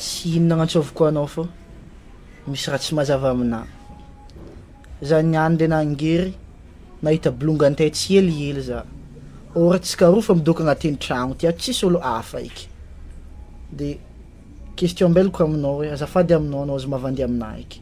Tsy inona agnantsoviko anao fa misy raha tsy mazava aminà. Za niany le nangery nahita bolongany tay tsy helihely za. Or tsikaroa fa midoko agnatin'ny tragno ty ato tsisy olo hafa eky. De question mbeloko aminao hoe azafady aminao anao aza mavandy aminà eky.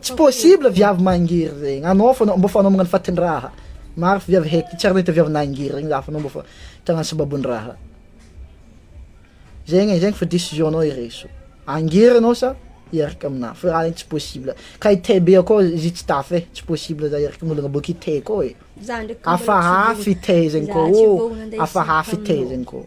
Tsy possible viavy mangery regny, anao fô mbô fanaomagna fatin-draha, maro fa viavy haiky, tsy ary nahita viavy nangery regny za fa anao mbô fa tagnano sababon-draha, zegny e zegny fa décision anao iraiso, angery anao sa hiaraka aminah fa raha igny tsy possible, ka i tay be akao izy tsy tafa e, tsy possible za hiaraka amin'ologna boaka i tay koa e, hafahafa i tay zegny koa ô, hafahafa i tay zegny koa ô.